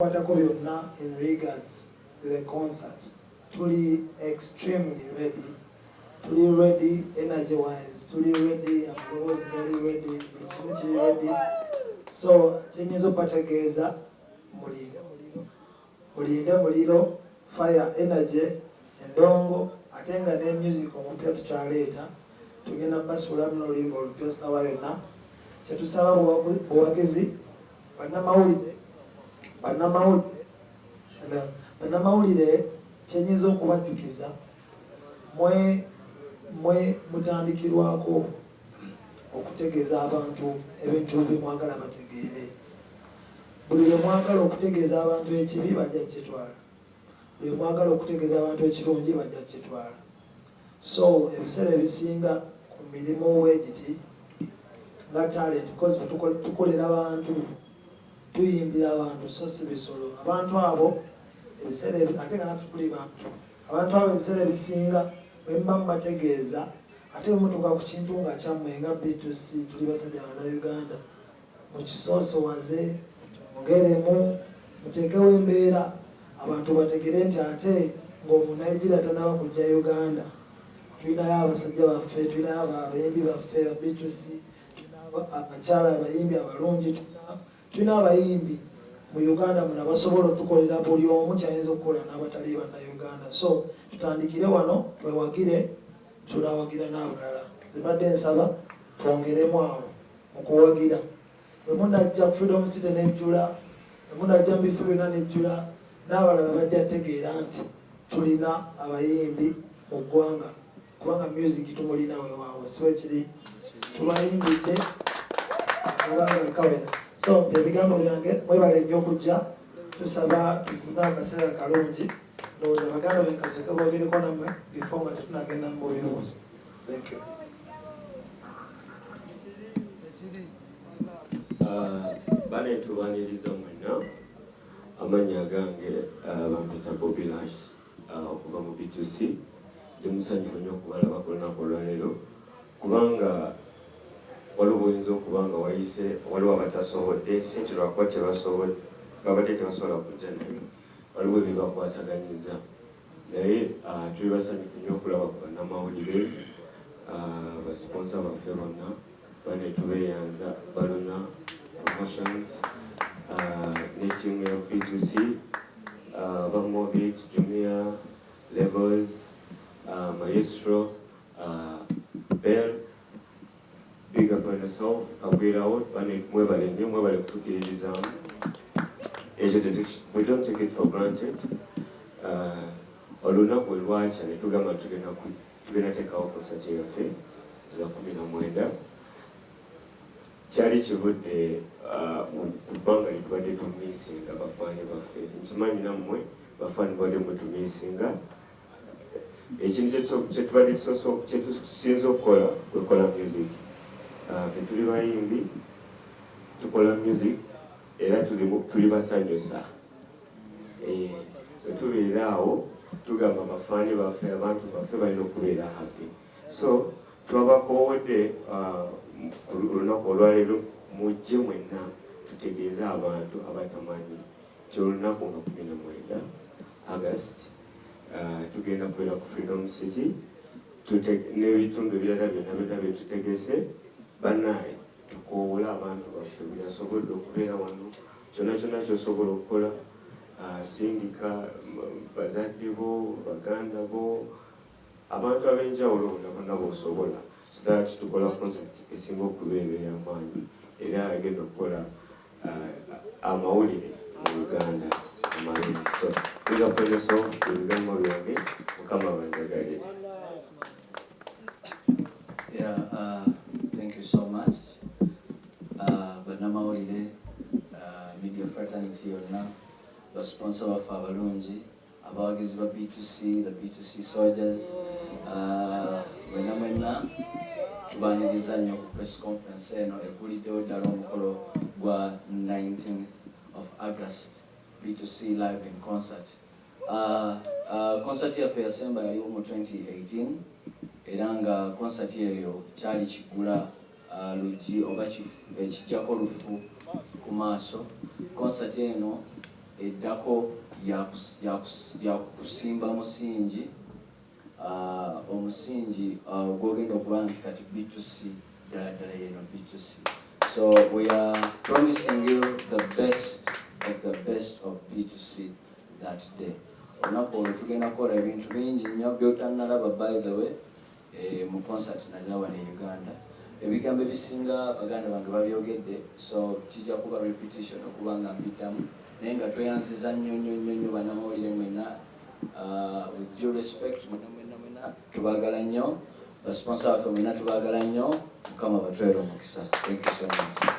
ebitukwatako byonna in regards to the concert tuli extremely ready tuli ready energy wise tuli ready amaloboozi gali ready buli kimu kiri ready so kyenyinza okubategeeza mulinde muliro mulinde muliro fire energy endongo ate nga ne music omupya tukyaleeta tugenda basuulamu noluyimba olupya sawa yonna kyetusaba buwagizi Bannamawulire kyenyinza okubajjukiza mwe mwe mutandikirwako okutegeeza abantu ebintu byemwagala bategeere. Buli lwemwagala okutegeeza abantu ekibi bajja kukitwala, lwemwagala okutegeeza abantu ekirungi bajja kukitwala. So ebiseera ebisinga ku mirimu bwegiti nga talent coz tukolera bantu, tuyimbira bantu so si bisolo. Abantu abo ebiseera ate nga naffe tuli bantu. Abantu abo ebiseera ebisinga bwemuba mubategeeza ate bwemutuuka ku kintu nga kyammwe nga B2C tuli basajja bana Uganda. Mukisoosowaze mwongeremu, muteekewo embeera abantu bategere nti ate ng'omu Nigeria tanaba kujja Uganda tulinayo abasajja baffe, tulinayo abayimbi baffe ba Beatrice, tulinayo abakyala abayimbi abalungi, tulina abayimbi mu Uganda muno abasobola otukolera buli omu kyayinza okukola n'abatali Bannayuganda so tutandikire wano twewagire tunawagira n'abalala. Nze mbadde nsaba twongeremu awo. mu kuwagira, bwe munajja mu Freedom City n'ejjula, bwe munajja mu bifo byonna n'ejjula, n'abalala bajja tegeera nti tulina abayimbi mu ggwanga kubanga music tumulina wewaawo si wekiri tubayimbidde akabanga kawera so ebigambo byange mwebale nnyo okujja tusaba tufune akaseera kalungi ndowooza baganda bekasoke bogereko namwe bifo nga tetunagenda mu buyobozi Thank you. Uh, bale tubaniriza mwenna amannya agange uh, bampita bobi lash uh, okuva mu btc ndi musanyufu nnyo okubalaba ku lunaku olwaleero kubanga waliwo oyinza okuba nga wayise waliwo abatasobodde si nti lwakuba tebasobodde babadde tebasobola kujja naye waliwo ebibakwasaganyiza Naye tuli basanyufu nnyo okulaba ku bannamawulire, ba sponsor baffe bonna, bane tubeyanza, Baluna Promotions ne team ya B2C, ba Mobit, Jumia, Levels, Maestro, Bell. Big up on yourself kagwirawo bane mwebale nnyo mwebale kutukiririzaamu ekyo tetuki we don't take it for granted uh, olunaku we lwakya ne tugamba nti tugenda ku tugenda teekawo konsati yaffe za kumi na mwenda kyali kivudde uh, ku bbanga lye tubadde tumiisinga bafaani baffe nkimanyi nammwe bafaani bubadde mutumiisinga Ekintu kyetubadde kyetusinze okukola kwekola music. Ffe tuli bayimbi, tukola music era tuli basanyusa. Bwetubeera awo tugamba ba fan baffe, abantu baffe balina okubeera happy. So twabakoowodde ku lunaku olwaleero mujje mwenna tutegeeze abantu abatamanyi nti olunaku nga kumi na mwenda August. Tugenda kubeera ku Freedom City tute n'ebitundu ebirala byonna byonna bye tutegese. Bannaaye tukoowole abantu baffe buli asobodde okubeera wano kyonna kyonna ky'osobola okukola sindika bazadde bo, baganda bo, abantu ab'enjawulo bonna bonna b'osobola so that tukola concert esinga okubeera ey'amaanyi era egenda okukola amawulire mu Uganda amangi so big up on yourself ebigambo byange mukama banjagalire Yeah, uh, thank you so much. Uh, bannamawulire uh, media fraternity yonna basponsor baffe abalungi Abawagizi ba B2C, the B2C soldiers, mwenna mwenna tubaaniriza nnyo ku press conference eno egguliddewo ddala omukolo gwa 19th of August B2C live in concert. Concert yaffe eyasemba yaliwo mu 2018 era nga concert eyo kyali kiggula. luggi oba ekiggyako lufu ku maaso. Konsati eno eddako ya kusimba musingi, omusingi gw'ogenda okuba nti kati Bittusi ddala ddala y'eno Bittusi. So we are promising you the best of the best of Bittusi that day. Olunaku olwo tugenda kukola ebintu bingi nnyo by'otannalaba by the way. Eeh mu concert nalina wano e Uganda. Ebigambo ebisinga baganda bange babyogedde so kijja kuba repetition okuba nga mbiddamu naye nga tweyanziza nnyo nnyo nnyo nnyo banamawulire mwenna aah with due respect mwenna mwenna mwenna tubagala nnyo ba sponsor baffe mwenna tubagala nnyo mukama abatwere omukisa thank you so much.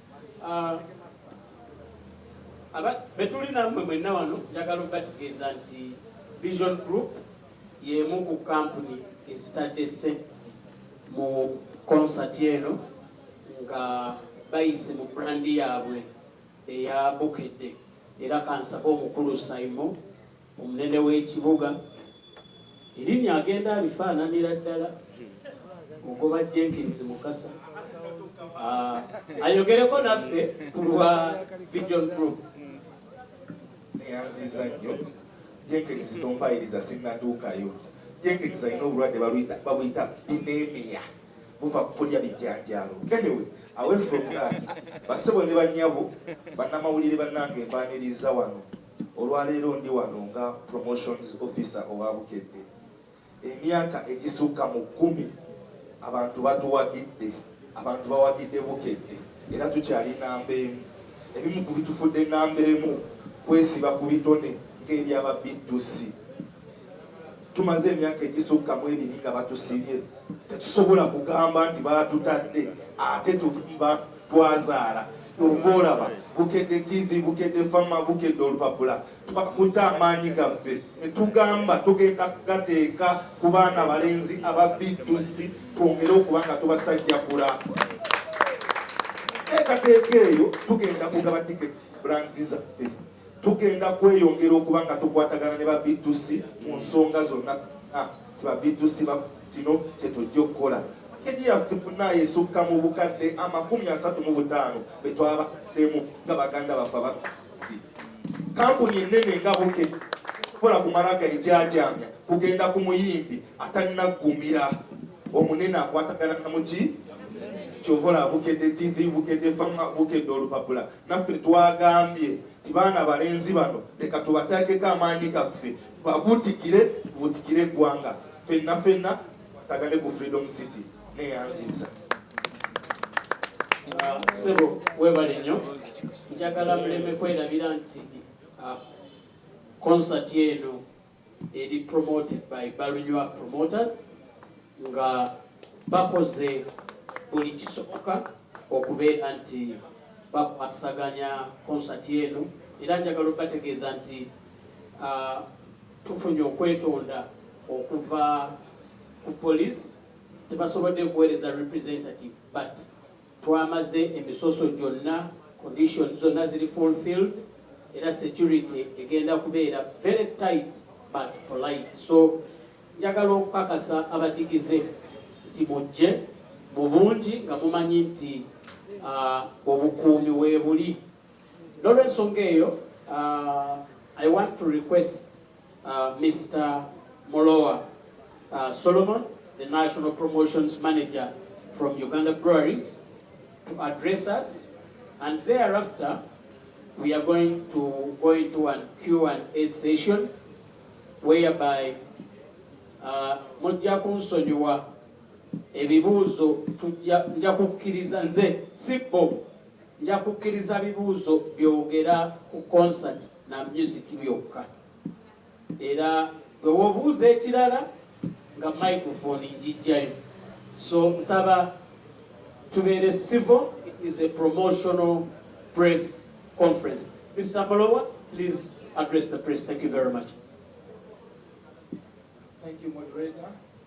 Ah, aba betuli nammwe mwenna wano njagala okubategeeza nti vision group y'emu ku kampuni ezitadde ssente mu konsati eno nga bayise mu brandi yaabwe eya bukedde era kansabe omukulu saimo Omunene w'ekibuga erinnya agenda alifaananira ddala mugoba Jenkins Mukasa ah, ayogereko naffe ku lwa Vision Group. Neyanziza nnyo Jenkins tompayiriza sinnatuukayo. Jenkins alina obulwadde babuyita binemia buva ku kulya bijanjaalo. Anyway, away from that, bassebo ne bannyabo, bannamawulire bannange mbaaniriza wano. Olwaleero ndi wano nga Promotions Officer owa Bukedde. Emyaka egisukka mu kkumi abantu batuwagidde, abantu bawagidde Bukedde era tukyali nnamba emu. Ebimu ku bitufudde nnamba emu kwesiba ku bitone ng'ebya ba BTC. Tumaze emyaka egisukka mu ebiri nga batusibye, tetusobola kugamba nti baatutadde ate tuva twazaala. Ky'ova olaba Bukedde ttivi, Bukedde ffama, Bukedde olupapula twakutte amaanyi gaffe ne tugamba tugenda kugateeka ku baana balenzi aba BDUSI twongere okuba nga tubasajjakula. Enteekateeka eyo tugenda kugaba tiketi brands zaffe. Tugenda kweyongera okuba nga tukwatagana ne ba BTC mu nsonga zonna a nti ba BTC ba kino kye tujja okukola. Pakeji yaffe bnnayo esukka mu bukadde amakumi asatu mu butaano be twabaddemu nga baganda baffe aba BTC. Kkampuni ennene nga Bukedde tesobola kumala galijaajaamya kugenda ku muyimbi atannaggumira omunene akwatagana na muki kyova olaba Bukedde TV, Bukedde Farm, Bukedde Olupapula. Naffe twagambye nti baana balenzi bano leka tubateekeko amaanyi gaffe tubabuutikire, tubuutikire eggwanga fenna fenna tukwatagane ku Freedom City. Neeyanzizza. Ah, ssebo weebale nnyo njagala muleme kwerabira nti ah, konsati eno eri promoted by Balunywa promoters nga bakoze buli kisoboka okubeera nti bakwasaganya concert eno era njagala okubategeeza nti tufunye okwetonda okuva ku police tebasobodde kuwereza representative but Twamaze emisoso gyonna, conditions zonna ziri fulfilled era security egenda kubeera very tight but polite so njagala okukakasa abadigize nti mujje mu bungi nga mumanyi nti obukuumi weebuli. N'olwensonga eyo, I want to request Mister Mulowa Solomon, the National Promotions Manager from Uganda Breweries to address us and thereafter we are going to go into an Q&A session whereby uh, mujja kunsonyiwa ebibuuzo nja kukkiriza nze si bo Nja kukkiriza bibuuzo byogera ku concert na music byokka era gwe wobuuza ekirala nga microphone njijjayo so nsaba tubeere civil it is a promotional press conference Mr. Molowa please address the press thank you very much. Thank you, moderator.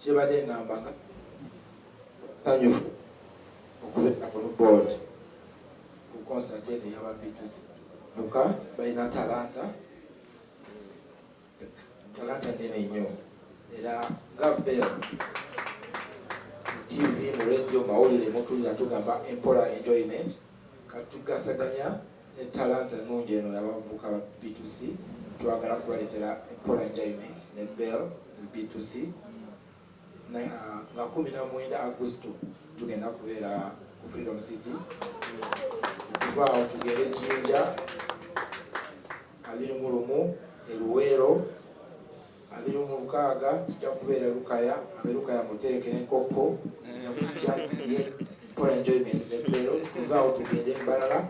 Kyebade ngamba nga sanyufu okubera ku board ku concert eno yaba Beatles vuka balina talanta talanta nene nnyo era nga bel TV mu radio mawulire mutulira tugamba empola enjoyment katugasaganya Ne talanta ennungi eno y'abavubuka ba B2C, twagala kubaleetera Empola Enjoyment ne Bell mu B2C nga kkumi na mwenda Agusto tugenda kubeera ku Freedom City. Okuva awo tugende e Jinja, abiri mu lumu e Luweero. Abiri mu mukaaga kijja kubeera Lukaya, abe Lukaya muteeke ne Nkokko nga tujja ye kukola enjoyment ne Lubero, tuve awo tugende Mbarara,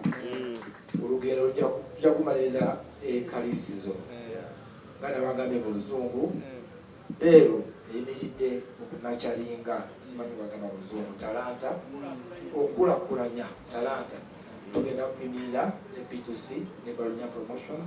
olugendo lujja tujja kumaliriza e Kalisizo nga nabagambye mu luzungu Lubero eyimiridde mu kunakyalinga, simanyi bwebagamba mu luzungu, talanta, okukulakulanya talanta, tugenda kuyimirira ne P2C ne Balunya Promotions.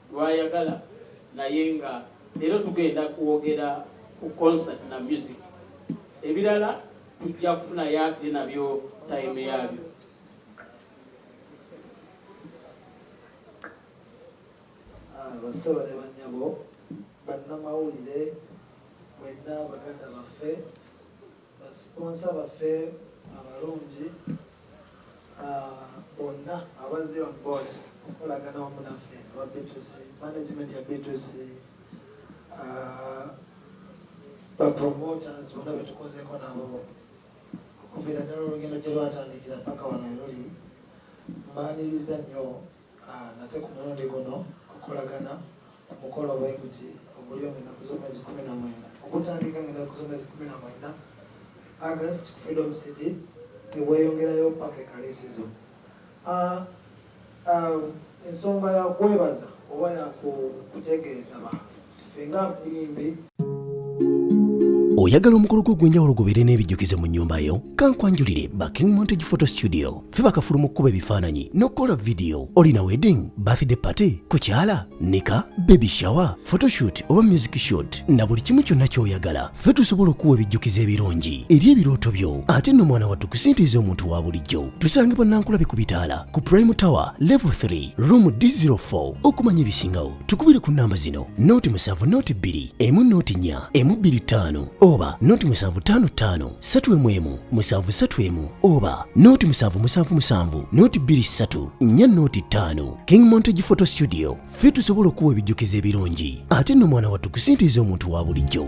lwayagala naye nga leero tugenda kwogera ku concert na music ebirala tujja kufunayo ate nabyo time yabyo. Bassebo ne bannyabo, bannamawulire mwenna baganda baffe. Ba sponsor baffe abalungi bonna abazze on board okukolagana wamu naffe aba B2C, management ya B2C, ba promoters bona betukozeeko nabo okuviira ddala olugendo gye lwatandikira paka wano eruli mbaaniriza nnyo Nate ku mulundi guno okolagana ku mukolo bweguti ogulyo mu ennaku z'omwezi kkumi na mwenda ogutandika nga ennaku z'omwezi kkumi na mwenda, August, ku Freedom City ne gweyongerayo ppaka e Kaliisizo. Ensonga ya kwebaza oba ya kutegeeza bantu? oyagala omukolo gwo ogw'enjawulo gubeere n'ebijjukizo mu nnyumba yo kankwanjulire ba king montage photo studio fe bakafulu mu kkuba ebifaananyi n'okukola vidiyo olina wedding birthday party kukyala nika baby shower photoshoot oba music shoot na buli kimu kyonna ky'oyagala fe tusobola okuwa ebijjukizo ebirungi eri ebirooto byo ate nno mwana wattu kusintiiza omuntu wa bulijjo tusange bannankulabe ku bitaala ku prime tower level 3 room d04 okumanya ebisingawo tukubire ku namba zino noti musanvu noti bbiri emu noti nnya emu bbiri ttaano oba noti musanvu ttaano ttaano ssatu emu emu musanvu ssatu emu oba noti musanvu musanvu musanvu noti bbiri ssatu nnya noti ttaano king montage photo studio ffe tusobola okuwa ebijjukizo ebirungi ate nno mwana wattu kusintiiza omuntu wa bulijjo